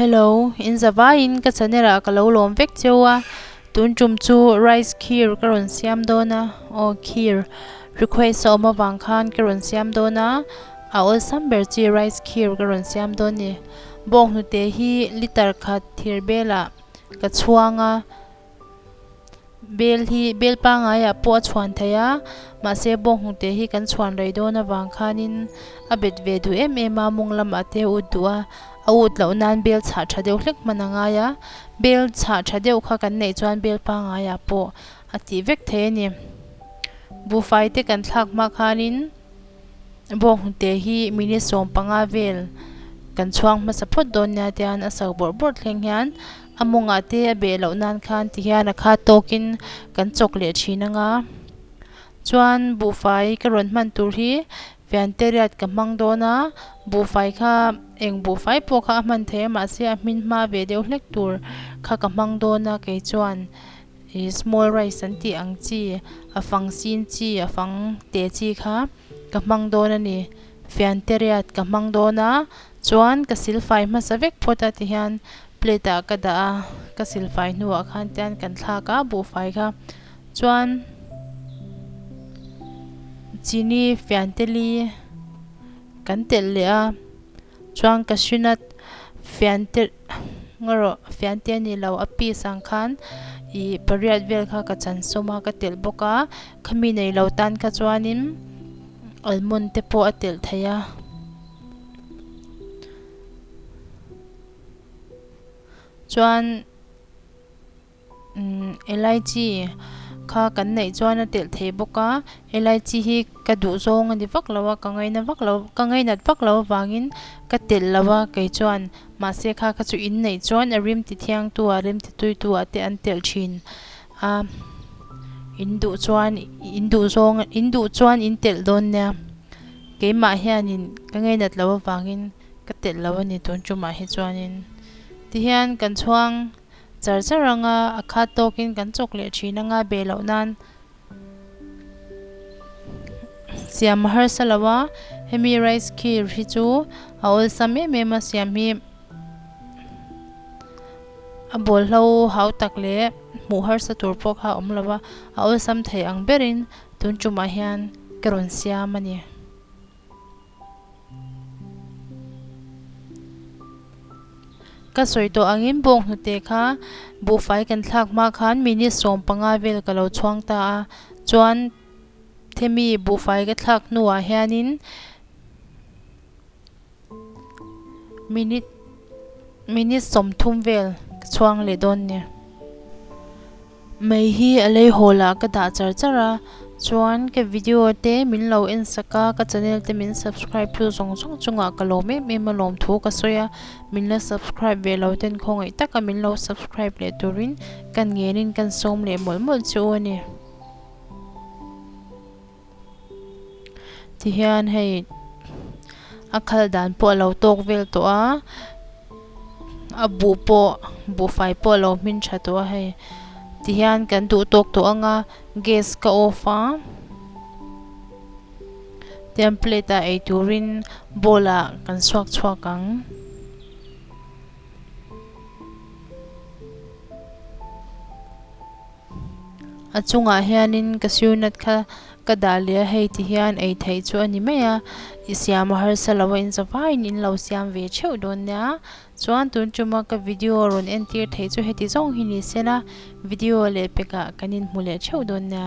Hello in zavaiin ka channel ah ka lo lawm vek cheu a tun tum chu rice kheer ka rawn siam dawn a aw kheer request a awm avang khan ka rawn siam dawn a a awlsam ber chi rice kheer ka rawn siam dawn a ni bawnghnute hi litre khat thir belah-- Ka chhuang a, bel hi bel pangaiah pawh a chhuan thei a, mahse bawnghnute hi kan chhuan rei dawn avang khanin a bet ve duh em em a, mawng lam a te ut duh a, a ut loh nan bel chhah tha deuh hlek hman a ngai a, bel chhah tha deuh kha kan neih chuan bel pangaiah pawh a tih vek thei a ni. Buhfaite kan thlak hma khanin. bawnghnute hi minute sawm panga vel kan chhuang hmasa phawt dawn nia tia hian a sau bawrh bawrh thleng hian a mawngah te a beh loh nan khan ti hian a kha tawk in kan chawk leh thin anga chuan buhfai ka rawn hman tur hi fianteriat ka hmang dawn a buhfai kha eng buhfai pawh kha a hman thei a mahse a hmin hma ve deuh hlek tur kha ka hmang dawn a kei chuan. I small rice an tih ang chi, a fang sin chi, a fang teh chi kha ka hmang dawn a ni. Fianteriat ka hmang dawn a, chuan ka silfai hmasa vek phawt a tihian plate ah ka dah a, ka silfai hnuah khan tihian kan thlak a buhfai kha. Chuan chini fianteli kan telh leh a. Chuan ka hrin a, Fiante nga rawh, Fiante a nih lo, a piece ang khan i pariat vel kha ka chan sawm a, ka telh bawk a, khami nei lo tan kha chuanin almond te pawh a telh thei a. Chuan. LIG kha kan neih chuan a telh thei bawk a, LIG hi ka duh zawng a ni vak lo a, ka ngaina vak lo, ka ngainat vak lo avangin ka telh lo a kei chuan. Mahse kha kha chu in neih chuan a rim ti thiangtu ah, rim ti tuitu ah te an telh thin a, in duh chuan in duh zawng, in duh chuan in telh dawn nia, keimah hianin ka ngainat lo avangin ka telh lo a ni tun chumah hi chuanin ti hian kan chhuang. Char char anga a khat tawkin kan chawk leh thin anga beh loh nan siam a harsa lo a, hemi rice kheer hi chu a awlsam em em a, siam hi a bawlhlo hau tak leh hmuh harsa tur pawh kha a awm lo a, a awlsam thei ang berin tun tumah hian ka rawn siam a ni. Ka sawi tawh angin bawng hnute kha buhfai kan thlak hma khan minute sawm panga vel ka lo chhuang ta a, chuan Themi buhfai ka thlak hnuah hianin minute minute sawmthum vel ka chhuang leh dawn nia. Mei hi a lei hawl ah ka dah char char a, chuan ka video te min lo en sak a, ka channel te min subscribe tu zawng zawng chungah ka lawm em em a, lawm thu ka sawi a, min la subscribe ve lo ten khawngaih tak a min lo subscribe leh turin kan ngen in kan sawm leh mawlh mawlh chu a ni. Tihian hei a khal dan pawh a lo tawk vel tawh a, a buh pawh buhfai pawh a lo hmin tha tawh a hei. Tihian kan duh tawk tawh ang a, gas ka off a, tihian plate a ei turin bowl ah kan chhuak chhuak ang. A chungah hianin ka siunat kha ka dah leh a, hei ti hian ei theih chu a ni mai a, i siam a harsa lo a, inza vaiin in lo siam ve theuh dawn nia. Chuan tun tuma ka video rawn entir theih chu heti zawng hi ni se la, video leh pekah kan inhmu leh theuh dawn nia.